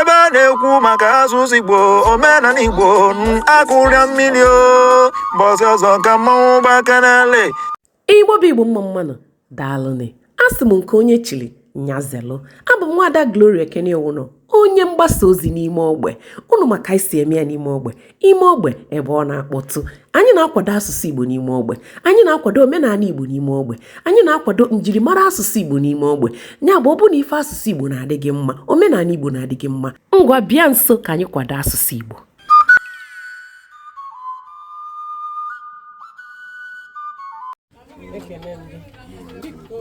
ebe a na-ekwu maka asụsụ igbo omenala igbo akụrịa mmiri o mbọsị ọzọ ka mmanwụ gbakanale igbo bụ igbo mma mma nụ daalụnị asị m nke onye chiri nya zelụ abụ m nwaada gloria ekene owuno onye mgbasa ozi n'ime ogbe unu ma ka anyị si eme ya n'ime ogbe ime ogbe ebe ọ na-akpọtụ anyị na-akwado asụsụ igbo n'ime ogbe anyị na-akwado omenala igbo n'ime ogbe anyị na-akwado njirimara asụsụ igbo n'ime ogbe ya bụ ọ bụ na ife asụsụ igbo na-adị gị mma omenala igbo na-adị gị mma ngwa bịa nso ka anyị kwado asụsụ igbo ekene m gị biko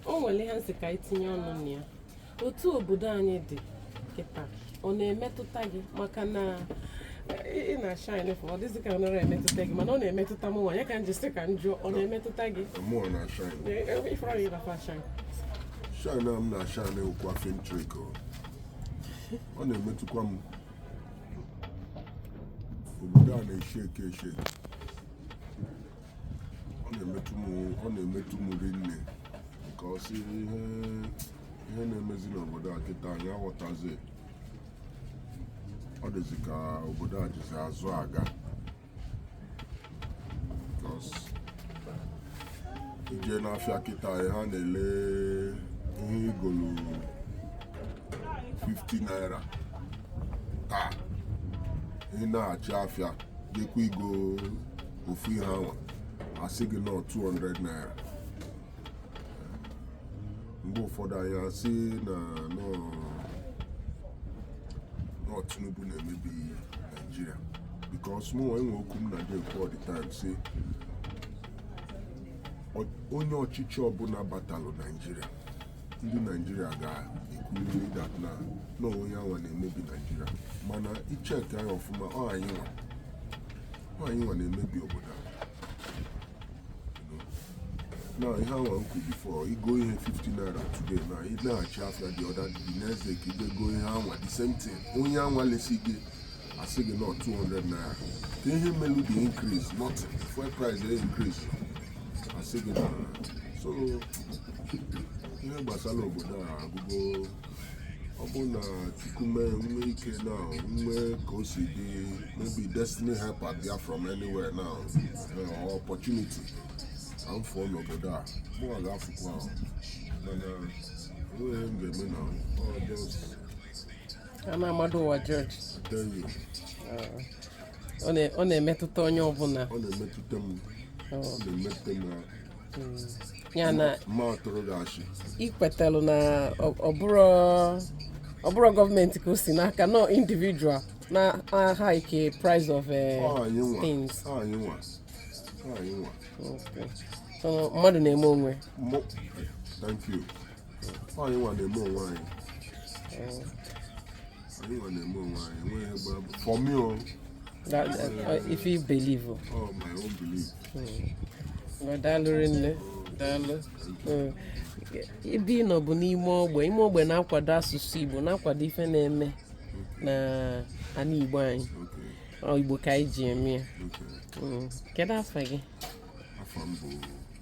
o nwere ihe m sị ka i tinye ọnụ na ya otu obodo anyị dị kịta ọ na-emetụta gị maka na ị ị na-ashine fọ ọ dịzị ka ọ nara emetụta gị mana ọ na-emetụta m nwa ya ka m ji sị ka m jụọ ọ na-emetụta gị Mụ na-ashine. Ee, ee, ife ọrịa ịba fashion Shine a m na-ashine ụkwa film trick o. Ọ na-emetụkwa m. Obodo a na-eshi ike eshi ike. ọ na-emetụ m ọ na-emetụ m rinne because ihe ihe na-emezi n'obodo a kịta anyị aghọtazi ọ dịzi ka obodo a jizi azụ aga Because i je n'afịa kịta ha na-ele ihe i golu 50 naira taa ị naghachi afịa jekwa igo ofu ihe anwa a sị gị na ọ 200 naira mgbe ụfọdụ anyị asị na na ọ Tinubu na-emebi Naijiria because mụnwa enwe okwu m na-ekwu all the time sị onye ọchịchị ọbụla batalụ Naijiria ndị naijiria ga-ekwuriri that na na onye anwa na-emebi naijiria mana i checkie ya ọfụma ọ anyị nwa ọ anyị nwa na-emebi obodo a na ihe anwa m kwu before i go ihe 50 naira today then ị laghachi afịa the other the next day ka i je go ihe anwa the same thing onye anwa lesi gị a sị gị na ọ 200 naira ke ihe melu the increase not fuel price dey increase asị gị na so ihe gbasara obodo a agwụgo ọ bụrụ na chukwu mee nwe ike na nwe ka o si dị maybe destiny helper bịa from anywhere now eh, or opportunity ka m fụọ n'obodo a mụ a ga-afụkwa afụ mana enweghị ihe m ga-eme na ọ just Ama amado ụwa ọjọọ. Ọ na-emetụta onye ọbụla. Ọ na-emetụta m. Ọ na-emetụta m ahụ. Ya na mma ọtụrụ ga-achị. I kwetalụ na ọ bụrọ ọ bụrọ gọọmenti ka o si n'aka na ọ individual na-hike price of eh, things mmadụ na-eme onwe thank you anyị nwa na-eme onwe anyị anyị nwa na-eme onwe anyị enweghị ihe gbara bụ for me o That, uh, if you believe. oh. oh my own belief Well, daalụ rinne daalụ Mm. ebe ị nọ bụ n'ime ogbe ime ogbe na-akwado asụsụ igbo na-akwado ife na-eme na ana igbo anyị okay Ọ igbo ka anyị ji eme ya okay Mm. kedu afa gị afa m bụ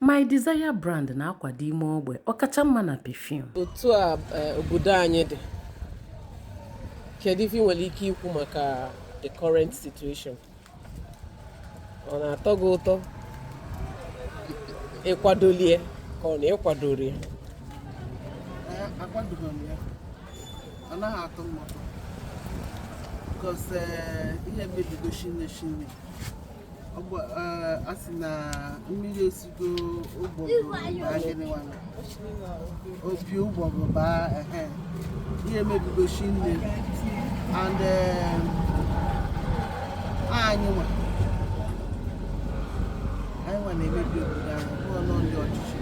My Desire brand na-akwado ime ogbe ọ kacha mma na perfume. Otu a eh, obodo anyị dị, kedu ife ị nwere ike ikwu maka the current situation? Ọ na-atọ gị ụtọ ị kwadolụ ya ka ọ na ị kwadorọ ya? Akwadoghị m ya, ọ naghị atọ m ụtọ. Because eh, ihe mebigo shinne shinne. a sị na mmiri esigo opi ụgbọgụ baa ihe mebigo shinne and anyị nwa anyị nwa na-emebi obodo a ọ bụrọ na ọ ndị ọchịchị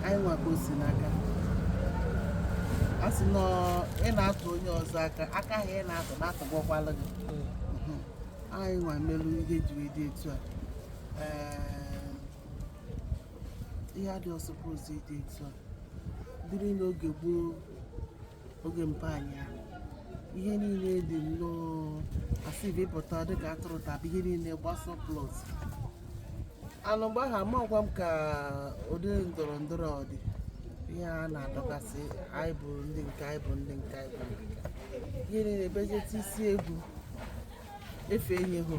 anyị nwa ka o si n'aka a sị na ị na-atụ onye ọzọ aka aka ahụ ị na-atụ na-atụgọkwala gị anyị nwa melu ihe ji wee dị etu a Ee, ihe adịrọ suppose ịdị etu a dịrị n'oge gboo oge mpa anyị ha, ihe niile dị nnọọ a sị bụ ị pụta dịka atụrụ taba ihe niile gbaa surplus anụ mgbe ahụ amakwa m ka ụdị ndọrọ ndọrọ ọ dị ihe a na-adọkasị anyị bụ ndị nke anyị bụ ndị nke anyị bụ ndị nke anyị. ihe niile bejeti isi egwu ife anyị hụ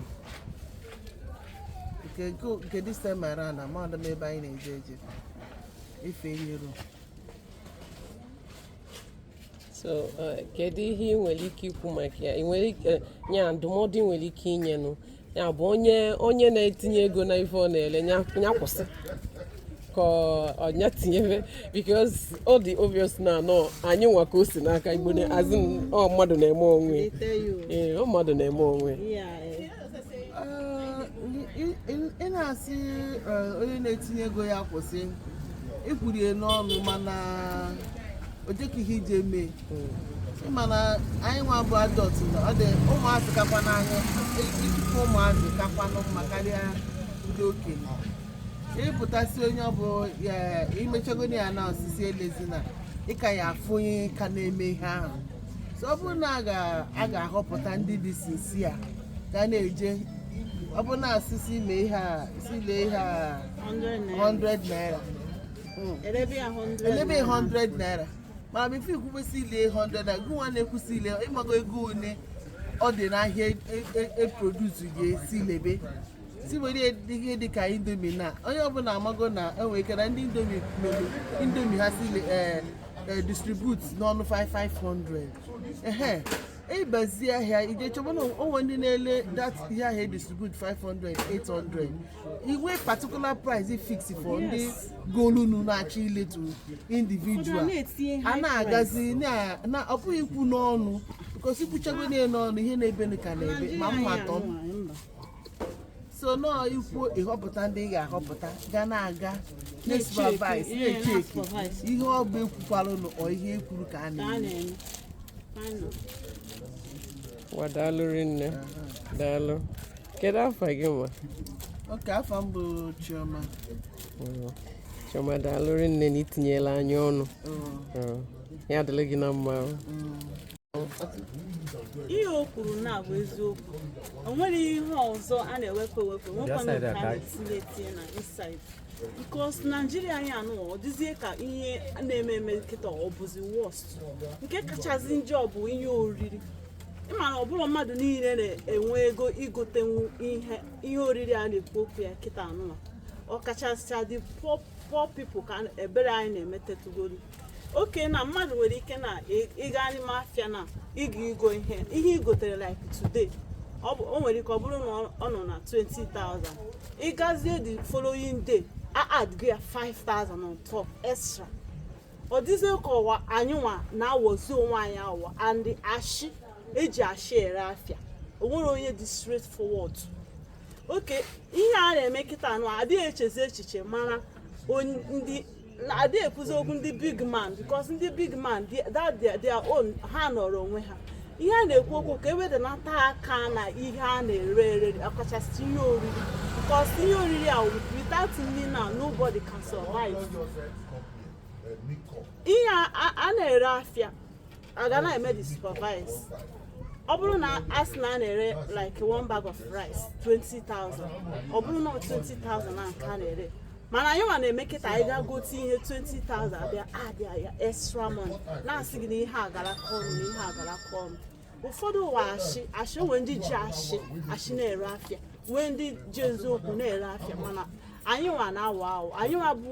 nke nke- nke December a na mmadụ m ebe anyị na-eje eje ife anyị rụ so eh, kedu ihe ị nwere ike ikwu maka ya ị nwere ike eh, ya ndụmọdụ ị nwere ike inyenụ ya bụ onye onye na-etinye ego na ife ọ na-ele ya ya kwụsị ka ọnya tinyebe because ọ dị obvious na ọọ anyị nwa ka o si n'aka igbo na- as in, ọ mmadụ na-eme onwe They tell you. ee ọ mmadụ na-eme onwe Yeah. eh. ị na-asị eh, onye na-etinye ego ya kwụsị ịkwụrụ ya n'ọnụ mana o jekwa ihe ije mee mana anyị nwa bụ adult ọ dị ụmụazị kakwa n'anya ikike ụmụazị kakwanụ mma karịa ndị okenye ị pụta sị onye ọ bụ i mechagodi ya na-asị sị elezina ị ka ya-afụ onye ka na-eme ihe ahụ so ọ bụrụ na a ga-ahọpụta ndị dị sincere ga na-eje ọ bụrụ na a sị sị ime ihe a sị lee ihe a 100 naira hmm. e lebe 100 naira mana before i kwube sị ile 100 naira gị nwa na-ekwu sị ile ị mago ego one ọ dị n'ahịa e produce e, e, e ga-esi lebe sị were ihe dị ka Indomie na onye ọbụla amago na e nwere ike na ndị Indomie melu Indomie ha si eh, eh, distribute n'ọnụ 5500 ehe ị bazie ahịa i je chọba na o nwe ndị na-ele that ihe ahịa e distribute 500 800 inwe particular price fix for ndị golunu na-achọ ile to individual a na-agazi na ọ bụghị ikwu n'ọnụ because i kwuchago niile n'ọnụ ihe na-eme ka na-eme ma mma tọ so na ọọ ikwu ịhọpụta ndị ị ga-ahọpụta ga na-aga na-supervise ihe na-echeki na-supervise. ihe ọ bụ e kwukwalụ nụ ọ ihe e kwuru ka a ka a na-eme na-eme Anọ. Wa daalụ rinne. Daalụ. Kedu afa gị nwa? okay afa m bụ Chioma Mm. Chioma daalụ rinne na i tinyela anyị ọnụ. Oh, Mm. Ya dịlị gị na mma. o. mm. ihe o kwuru na-abụ eziokwu o nwere ihe ọzọ a na-ewepụ ewepụ nwekwana nke a na-etinye etinye na inside because Nigeria anyị anụwa ọ dịzie ka ihe na-eme eme kịta ọ bụzi worst nke kachasị njọ bụ ihe oriri ị ma na ọ bụrọ mmadụ niile na-enwe ego igotenwu ihe ihe oriri a na-ekwu okwu ya kịta anụwa ọkachasị ndị poor people ka ebere anyị na-emetetugolu okay na mmadụ nwere ike na ị gaa n'ime afịa na ịga igo ihe ihe i gotere like today o nwere ike ọ bụrụ na ọ nọ na 20,000 ị gazie the following day a add gị ya 5,000 on top extra ọ dịzie ka ọ bụ anyị nwa na-awọzi onwe anyị awọ and ashị e ji ashị ere afịa o nwerọ onye dị straightforward okay ihe a na-eme kịta anụwa a dịghị echezi echiche maka ndị adị ekwuzi okwu ndị big man because ndị big man that their own ha nọrọ onwe ha ihe a na-ekwu okwu ka e wedanata aka na ihe a na-ere ere ọkachasị ihe oriri because ihe oriri a without nri na nobody can survive ihe a na-ere afịa a ga na-eme the supervise ọ bụrụ na a sị na a na-ere like one bag of rice 20,000 ọ bụrụ na ọ 20,000 na nke a na-ere mana anyị nwa na-eme kịta anyị gaa gote ihe 20,000 a bịa addịa ya extra money na-asị gị na ihe agaraka ọnụ na ihe agaraka ọnụ ụfọdụ wụ ashị ashị o nwee ndị ji ashị ashị na-ere afịa nwee ndị ji eziokwu na-ere afịa mana anyị nwa na-awụ awụ anyị nwa bụ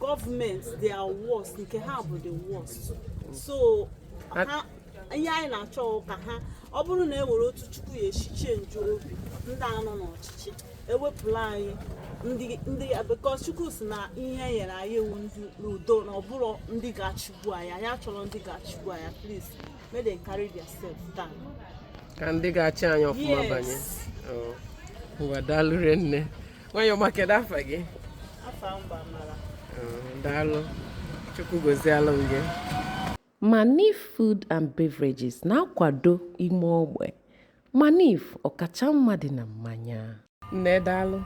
gọọmenti they are worse nke ha bụ the worst so ihe anyị na-achọ ka ha ọ bụrụ na e nwere otu chukwu ya-eshi change obi ndị a nọ n'ọchịchị e wepụla anyị ndị ndị because chukwu sị na ihe nyere anyị ewu ndị n'udo na ọ bụrọ ndị ga-achịgbu anyị anyị achọrọ ndị ga-achịgbu anyị please make them carry their self down ka ndị ga-achị anyị ọfụma Yes. banye Oh. ngwa daalụ rinne nwanyị ọma kedu afa gị afa m bụ amara daalụ chukwu gọzielụ m gị manif food and beverages na-akwado ime ogbe manif ọkacha mma dị na mmanya nne daalụ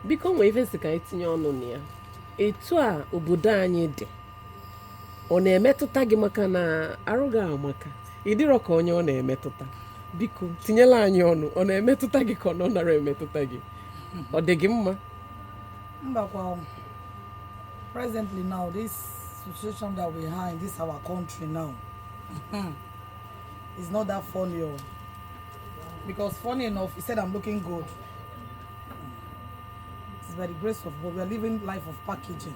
biko nwee ife sị ka anyị tinye ọnụ na ya etu a obodo anyị dị ọ na-emetụta gị maka na arụ gị amaka ị dịrọ ka onye ọ na-emetụta biko tinyela anyị ọnụ ọ na-emetụta gị ka ọ na ọ nara emetụta gị ọ dị gị mma mbakwa presently now this situation that we have in this our country now hmm, is not that funny o oh. because funny enough you said i'm looking good it's by the grace of god we are living life of packaging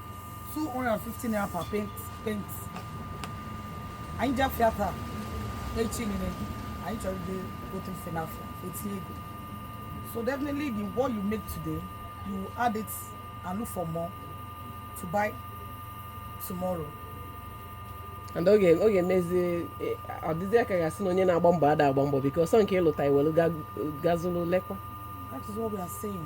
250 naira per paint paint anyị jee afịa taa echi nile anyị chọrọ ije gote ife n'afịa e tinye ego so definitely the what you make today you add it and look for more to buy tomorrow and ọ ga-emezi ọ dịzịa ka a ga-asị na onye na-agba mbọ ada agba mbọ because nke ị lụta i welu ga zụlụ lekwa that is what we are saying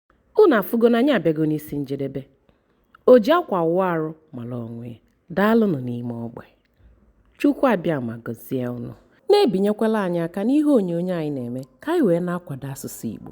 unu afụgo na anyị abịago n'isi njedebe o ji akwa awụ arụ mara onwe ya daalụnụ n'ime ogbe chukwu abịama gọzie unu na-ebinyekwala anyị aka n'ihe onyonyo anyị na-eme ka anyị wee na-akwado asụsụ igbo